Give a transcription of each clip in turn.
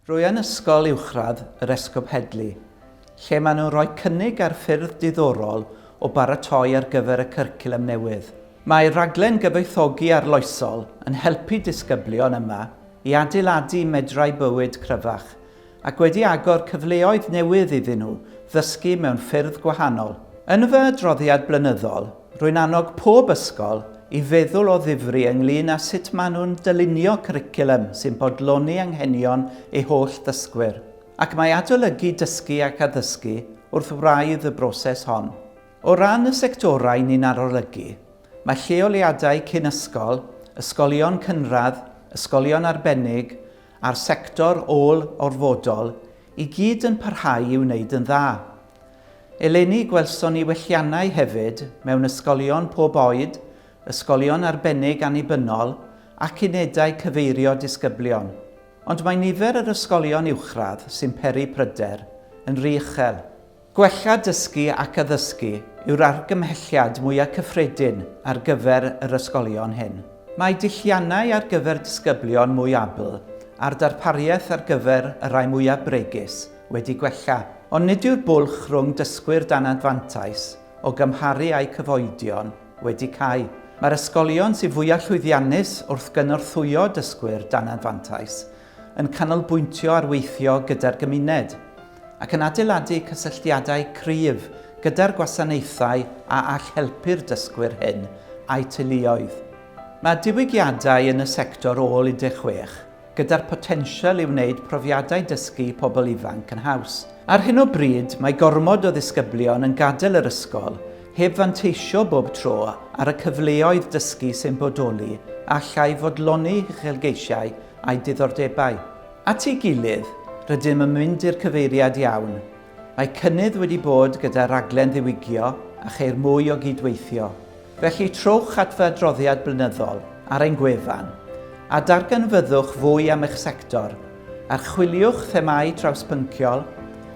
Rwy yn Ysgol Uwchradd yr Esgob Headley, lle maen nhw'n rhoi cynnig ar ffyrdd diddorol o baratoi ar gyfer y cyrculum newydd. Mae rhaglen gyfoethogi arloesol yn helpu disgyblion yma i adeiladu medrau bywyd cryfach, ac wedi agor cyfleoedd newydd iddyn nhw ddysgu mewn ffyrdd gwahanol. Yn fy adroddiad blynyddol, rwy'n annog pob ysgol i feddwl o ddifri ynglŷn â sut maen nhw'n dylunio cwricwlwm sy'n bodloni anghenion eu holl ddysgwyr, ac mae adolygu dysgu ac addysgu wrth wraidd y broses hon. O ran y sectorau ni'n arolygu, mae lleoliadau cyn ysgol, ysgolion cynradd, ysgolion arbennig, a'r sector ôl-orfodol i gyd yn parhau i wneud yn dda. Eleni gwelson ni welliannau hefyd mewn ysgolion pob oed, ysgolion arbennig annibynnol ac unedau cyfeirio disgyblion. Ond mae nifer yr ysgolion uwchradd sy'n peri pryder yn ry uchel. Gwella dysgu ac addysgu yw'r argymhelliad mwyaf cyffredin ar gyfer yr ysgolion hyn. Mae dulliannau ar gyfer disgyblion mwy abl a'r darpariaeth ar gyfer y rhai mwyaf bregus wedi gwella, ond nid yw'r bwlch rhwng dysgwyr dan anfantais o gymharu a'u cyfoedion wedi cau. Mae'r ysgolion sydd fwyaf llwyddiannus wrth gynorthwyo dysgwyr dan anfantais yn canolbwyntio ar weithio gyda'r gymuned, ac yn adeiladu cysylltiadau cryf gyda'r gwasanaethau a all helpu'r dysgwyr hyn a'u teuluoedd. Mae diwygiadau yn y sector ôl 16, gyda'r potensial i wneud profiadau dysgu pobl ifanc yn haws. Ar hyn o bryd, mae gormod o ddisgyblion yn gadael yr ysgol heb fanteisio bob tro ar y cyfleoedd dysgu sy'n bodoli a allai fodloni uchelgeisiau a'i diddordebau. At ei gilydd, rydym yn mynd i'r cyfeiriad iawn. Mae cynnydd wedi bod gyda raglen ddiwygio a cheir mwy o gyd-weithio. Felly, trowch at fy adroddiad blynyddol ar ein gwefan a darganfyddwch fwy am eich sector, archwiliwch themâu trawspynciol,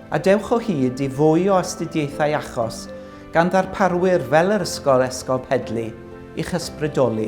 a dewch o hyd i fwy o astudiaethau achos gan ddarparwyr fel yr Ysgol Esgob Heddlu i'ch ysbrydoli.